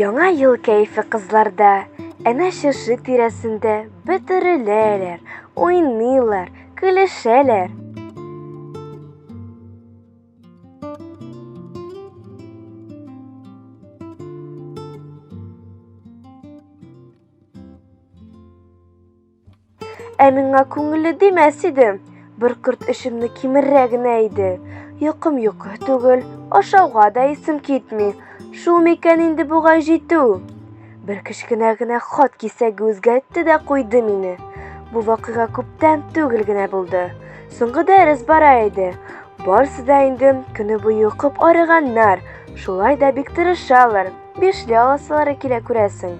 Яңа ел кәйфе кызларда, әнә шушы тирәсендә бөтереләләр, уйныйлар, көлешәләр. Ә миңа күңелле димәс иде. Бер корт эшемне кимеррә генә иде. Йокым йокы түгел, ашауга да исем китми. Шул микән инде бугай җитү. Бер кечкенә генә хат кисәге үзгәртте дә куйды мине. Бу вакыйга күптән түгел генә булды. Соңгы дәрес бара иде. Барсы да инде көне буе укып арыганнар. Шулай да бик тырышалар. Бишле аласылары килә күрәсең.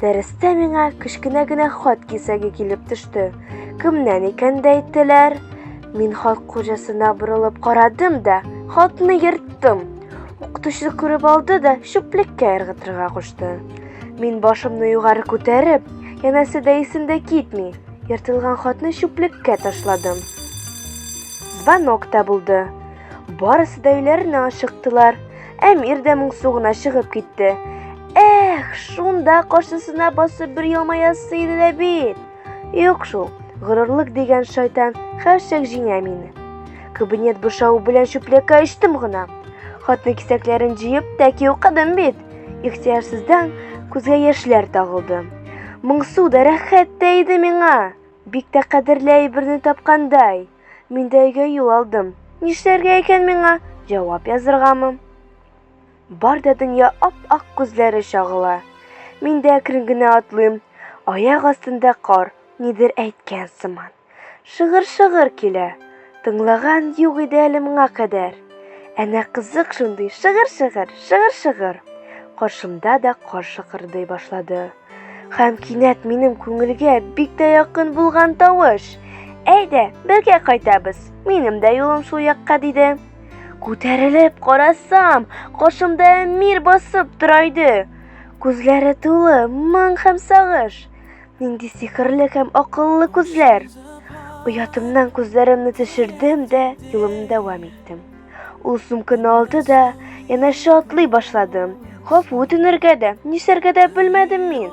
Дәрестә миңа кечкенә генә хат кисәге килеп төште. Кемнән икән дә әйттеләр? Мин хат хуҗасына борылып карадым да, хатны ерттым. Укытучы күреп алды да чүплеккә ыргытырга кушты. Мин башымны югары күтәреп, янәсе дә исемдә китми, ертылган хатны чүплеккә ташладым. Звонок та булды. Барысы да өйләренә ашыктылар. Әмир дә моңсу гына чыгып китте. Эх, шунда каршысына басып бер елмаясы иде дә бит. Юк шул, горурлык дигән шайтан хәрчәк җиңә мине. Кабинет бушау белән чүплеккә очтым гына. Хатын кисәкләрен җыеп тәки укыдым бит. Ихтиярсыздан күзгә яшьләр тагылды. Моңсу да рәхәт тә иде миңа. Бик тә кадерле әйберне тапкандай. Мин дә өйгә юл алдым. Нишләргә икән миңа? Җавап языргамы? Бар да дөнья ап-ак күзләре чагыла. Мин дә әкрен генә атлыйм. Аяк астында кар, нидер әйткән сыман. Шыгыр-шыгыр килә. Тыңлаган юк иде әле моңа кадәр. Әнә кызык шундый, шыгыр-шыгыр, шыгыр-шыгыр. Каршымда да кар шыгырдый башлады. Һәм кинәт минем күңелгә бик тә якын булган тавыш. Әйдә, бергә кайтабыз. Минем дә юлым шул якка диде. Күтәрелеп карасам, каршымда Әмир басып тора иде. Күзләре тулы моң һәм сагыш. Нинди сихерле һәм акыллы күзләр. Оятымнан күзләремне төшердем дә юлымны дәвам иттем. Ул сумканы алды да, янәшә атлый башлады. Гафу үтенергә дә, нишләргә дә белмәдем мин.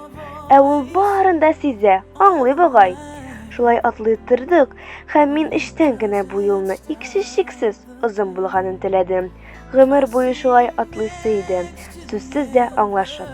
Ә ул барын да сизә, аңлый бугай. Шулай атлый тордык, һәм мин эчтән генә бу юлны иксез-чиксез озын булганын теләдем. Гомер буе шулай атлыйсы иде, сүзсез дә аңлашып.